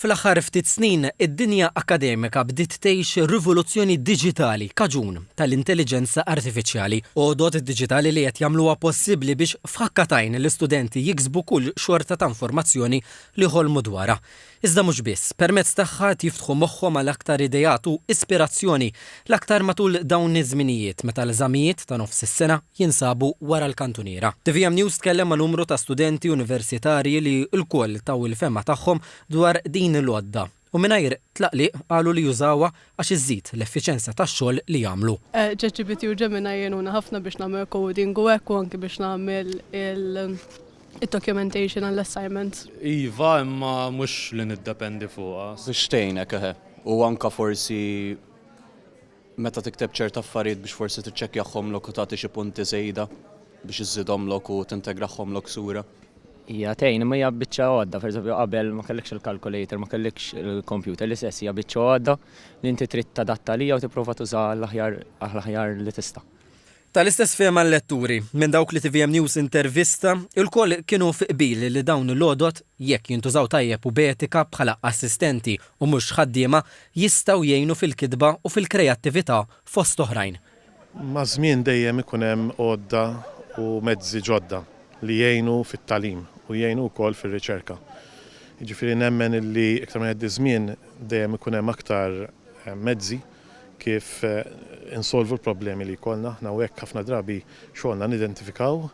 Fl-aħħar ftit snin, id-dinja akkademika bdiet tgħix rivoluzzjoni diġitali kaġun tal-intelliġenza artifiċjali. Għodod diġitali li qed jagħmluha possibbli biex f'ħakka t'għajn l-istudenti jiksbu kull xorta ta' informazzjoni li jħolmu dwarha. Iżda mhux biss, permezz tagħha qed jiftħu moħħhom għal aktar ideat u ispirazzjoni, l-aktar matul dawn iż-żminijiet meta l-eżamijiet ta' nofs is-sena, jinsabu wara l-kantuniera. Tvm News tkellem ma' numru ta' studenti universitarji li lkoll taw il-fehma tagħhom dwar din il-għodda u mingħajr tlaqliq qalu li jużawha għax iżżid l-effiċenza tax-xogħol li jagħmlu. ChatGPT u Gemini jgħinuna ħafna biex nagħmel coding u hekk u anki biex nagħmel il-documentation għall-assignments. Iva, imma mhux li niddependi fuqha. Biex tgħinek, eħe. U anke forsi Meta tikteb ċert affarijiet biex forsi tiċċekkjahhomlok u tagħti xi punti żejda biex iżżidhomlok u tintegrahhomlok sura. Hija tgħin imma hija biċċa għodda, pereżempju qabel ma kellikx il-calculator, ma kellikx il-computer, l-istess hija biċċa għodda li inti trid tadatta għalija u tipprova tużaha għall-aħjar għall-aħjar li tista'. Tal-istess fehma l-letturi, minn dawk li tvm News intervista, ilkoll kienu fi qbil li dawn il-għodod, jekk jintużaw tajjeb u b'etika bħala assistenti u mhux ħaddiema, jistgħu jgħinu fil-kitba u fil-kreattività fost oħrajn. Maż-żmien dejjem ikun hemm għodda u mezzi ġodda li jgħinu fit-tagħlim u jgħinu wkoll fir-riċerka. Jiġifieri nemmen illi iktar ma jgħaddi ż-żmien dejjem ikun hemm aktar mezzi, kif insolvu l-problemi li jkollna aħna u hekk ħafna drabi xogħolna nidentifikaw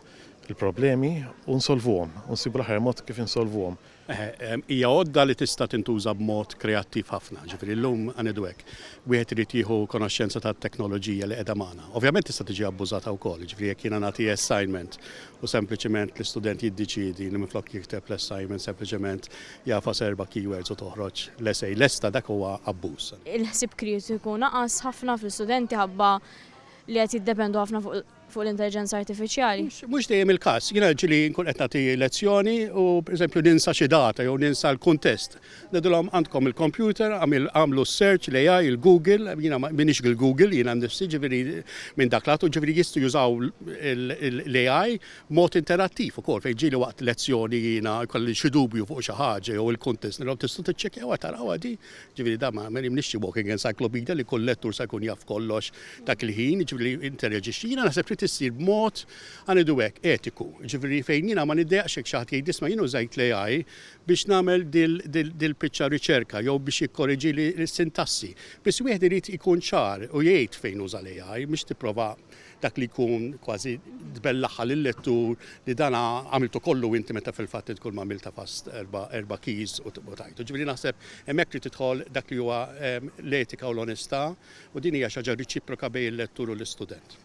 il-problemi u nsolvuhom, u nsibu l-aħjar mod kif insolvuhom. Hija għodda li tista' tintuża b'mod kreattiv ħafna, jiġifieri llum ħa ngħidu hekk, wieħed irid jieħu konoxxenza tat-teknoloġija li qiegħda magħna. Ovvjament tista' tiġi abbużata wkoll, jiġifieri jekk jiena nagħti assignment u sempliċement l-istudent jiddiċiedi li minflok jikteb l-assignment sempliċement jagħfas erba' keywords u toħroġ l-essay lesta dak huwa abbuż. Il-ħsieb kritiku naqas ħafna fl-istudenti ħabba li qed jiddependu ħafna fuq l-intelliġenza artifiċjali. Mhux dejjem il-każ. Jiena ġieli nkun qed nagħti lezzjoni u pereżempju ninsa xi data jew ninsa l-kuntest. Ngħidulhom għandkom il-kompjuter, għamlu s-search, l-AI, il-Google, jiena m'iniex il-Google, jiena nnifsi ġifieri minn dak l-għatu ġifieri jistgħu jużaw l-AI Mod interattiv ukoll, fejn ġieli waqt lezzjoni jiena jkolli xi dubju fuq xi ħaġa jew il-kuntest, nilhom tistgħu tiċċekkjawha tarawha di? Ġifieri dan ma jagħmilnix xi walking encyclopedia li kull lettur se jkun jaf kollox dak il-ħin, jiġifieri li interaġixxi. Jiena naħseb trid issir b'mod, ħa ngħidu hekk, etiku. Jiġifieri fejn jiena ma niddejjaqx jekk xi ħadd jgħid isma' jien użajt l-AI biex nagħmel dil-piċċa riċerka jew biex jikkoreġili s-sintassi. Biss wieħed irid ikun ċar u jgħid fejn uża l-AI, mhux tipprova dak li jkun kważi tbellaħħa lil-lettur li dan għamiltu kollu inti meta fil-fatt int kulma għamilt għafast erba' erba' keys u tajtu. Ġifieri naħseb hemmhekk trid tidħol dak li huwa l-etika u l-onestà u din hija xi ħaġa reċiproka bejn il-lettur u l-istudent.